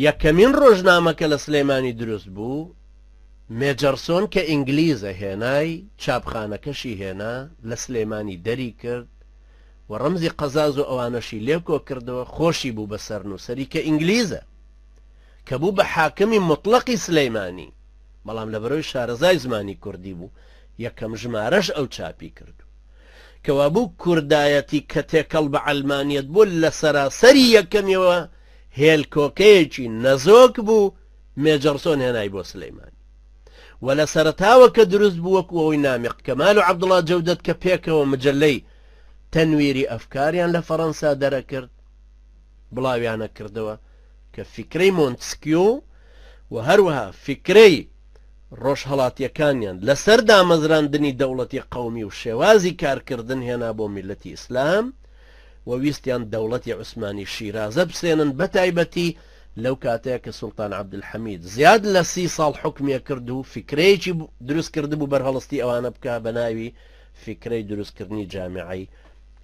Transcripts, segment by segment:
یەکەمین ڕۆژنامە کە لە سلێمانی دروست بوو، مێجەرسۆن کە ئینگلیزە هێنای، چاپخانەکەشی هێنا، لە سلێمانی دەری کرد و ڕەمزی قەزاز و ئەوانەشی لێ کۆ کردەوە، خۆشی بوو بە سەرنووسەری کە ئینگلیزە، کە بوو بە حاکمی موتڵەقی سلێمانی، بەڵام لەبەرەوەی شارەزای زمانی کوردی بوو، یەکەم ژمارەش ئەو چاپی کردووە. کەوابوو کوردایەتی کە تێکەڵ بە عەلمانیەت بوو لە سەراسەری یەکەمیەوە هێلکۆکەیەکی نەزۆک بوو مێجەڕسۆن هێنای بۆ سلیمانی و لە سەرەتاوە کە دروست بوو وەکو ئەوەی نامیق کەمال و عەبدوڵا جەودەت کە پێکەوە مجەلەی تەنویری ئەفکاریان لە فەڕەنسا دەرەکرد بڵاویانە کردەوە کە فیکرەی مۆنتسکیو و هەروەها فیکرەی ڕۆژهەڵاتیەکانیان لەسەر دامەزراندنی دەوڵەتی قەومی و شێوازی کارکردن هێنا بۆ میللەتی ئیسلام و ویستیان دەوڵەتی عوسمانی شیرازە بسێنن بەتایبەتی لەو کاتەیا کە سوڵتان عەبدولحەمید زیاد لە سی ساڵ حوکمیە کرد و فیکرەیەکی دروست کردبوو بەرهەڵستی ئەوانە بکا بەناوی فیکرەی دروستکردنی جامعەی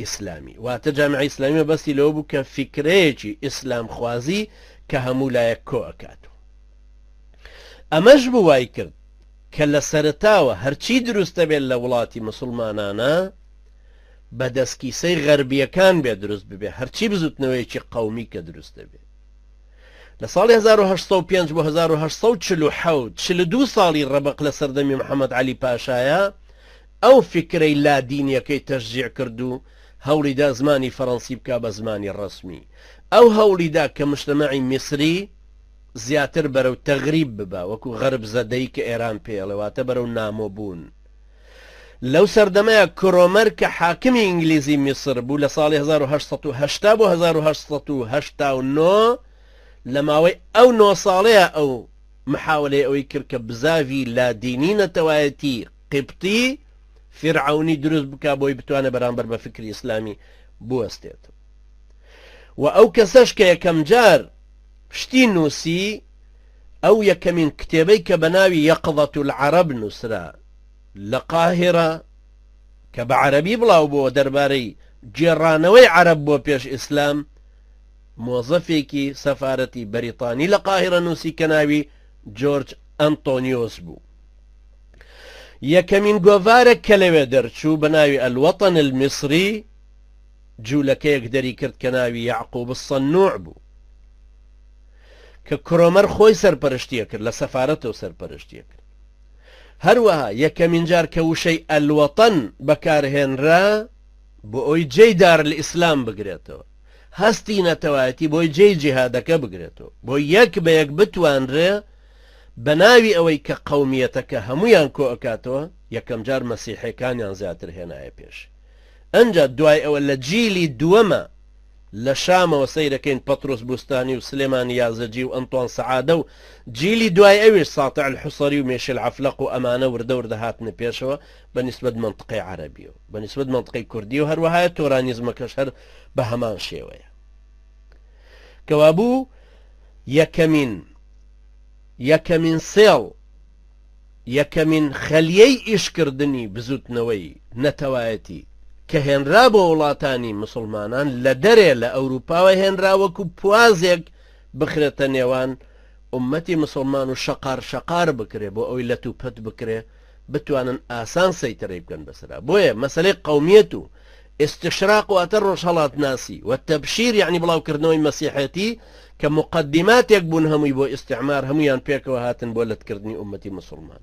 ئیسلامی واتە جامعەی ئیسلامی مەبەستی لەوە بوو کە فیکرەیەکی ئیسلامخوازی کە هەموو لایەک کۆ ئەکات و ئەمەش بوو وایکرد کە لە سەرەتاوە هەرچی دروستە بێت لە وڵاتی مسوڵمانانە بە دەستکیسەی غەربیەکان بێت دروست ببێت هەرچی بزوتنەوەیەکی قەومی کە دروست دەبێت لە ساڵی 1950 بۆ 1940 42 ساڵی ڕەبق لە سەردەمی محەممەد علی پاشایە ئەو فکرەی لادینیەکەی تەشجیع کرد و هەوڵیدا زمانی فەڕەنسی بکە بە زمانی ڕسمی ئەو هەوڵیدا کە مشتەمەعی میسری زیاتر بەرەو تەغریب ببە وەکو غەرب زەدەی کە ئێران پێی ئەڵێ واتە بەرەو نامۆ بوون لەو سەردەمەیا کرۆمەر کە حاکمی ئینگلیزی میسر بوو لە ساڵی هەزار و هەشت سەد و هەشتا بۆ هەزار و هەشت سەد و هەشتا و نۆ لە ماوەی ئەو نۆ ساڵەیە ئەو محاولەی ئەوەی کرد کە بزاڤی لادینی نەتەوایەتی قیبتی فیرعەونی دروست بکا بۆی بتوانێ بەرامبەر بە فیکری ئیسلامی بوەستێت وە ئەو کەسەش کە یەکەم جار شتی نووسی ئەو یەکەمین کتێبەی کە بەناوی یەقظە العرب نووسرا لە قاهیرە کە بە عەرەبی بڵاو بۆ دەربارەی گێڕانەوەی عەرەب بۆ پێش ئیسلام مۆزەفێکی سەفارەتی بەریتانی لە قاهیرە نووسی کە ناوی جۆرج ئەنتۆنیۆس بوو یەکەمین گۆڤارە کە لەوێ دەرچوو بە ناوی ئەلوەتەن المصری جولەکەیەک دەریکرد کە ناوی یەعقوب الصنوع بوو کە کرۆمەر خۆی سەرپەرشتیەکرد لە سەفارەتەوە سەرپەرشتیەکرد هەروەها یەکەمین جار کە وشەی ئەلوەتەن بەکارهێنرا بۆ ئەوی جێی دار لە ئیسلام بگرێتەوە هەستی نەتەوایەتی بۆی جێی جیهادەکە بگرێتەوە بۆ یەک بە یەک بتوانرێ بە ناوی ئەوەی کە قومیەتەکە هەمویان کۆ ئەکاتەوە یەکەم جار مەسیحەکانیان زیاتر هێنایە پێش ئنجا دوای ئەوە لە جیلی دووەمە لە شامەوە سەیرەکەین پەتروس بوستانی و سلێمان یازجی و ئەنتوان سەعادە و جیلی دوای ئەویش ساتع الحصری و میشل عەفلەق و ئەمانە وردە وردە هاتنە پێشەوە بە نیسبەت مەنتقەی عەرەبی و بە نیسبەت مەنتقەی کوردی و هەروەهایە تۆرانیزمەکەش هەر بە هەمان شێوەیە کەوابوو یەکەمین یەکەمین سێڵ یەکەمین خەلیەی ئیشکردنی بزوتنەوەی نەتەوایەتی کە هێنرا بۆ وڵاتانی مسوڵمانان لە دەرێ لە ئەوروپاوە هێنرا وەکو پوازێک بخرێتە نێوان ئومەتی مسوڵمان و شەقار شەقار بکرێ بۆ ئەوەی لەت و پەت بکرێ بتوانن ئاسان سەیتەرەی بکەن بەسەرا بۆیە مەسەلەی قەومیەت و ئیستشراق واتە ڕۆژهەڵاتناسی، و تەبشیر یەعنی بڵاوکردنەوەی مەسیحێتی کە موقەدیماتێک بوون هەمووی بۆ ئیستیعمار هەموویان پێکەوە هاتن بۆ لەتکردنی ئوممەتی موسوڵمان.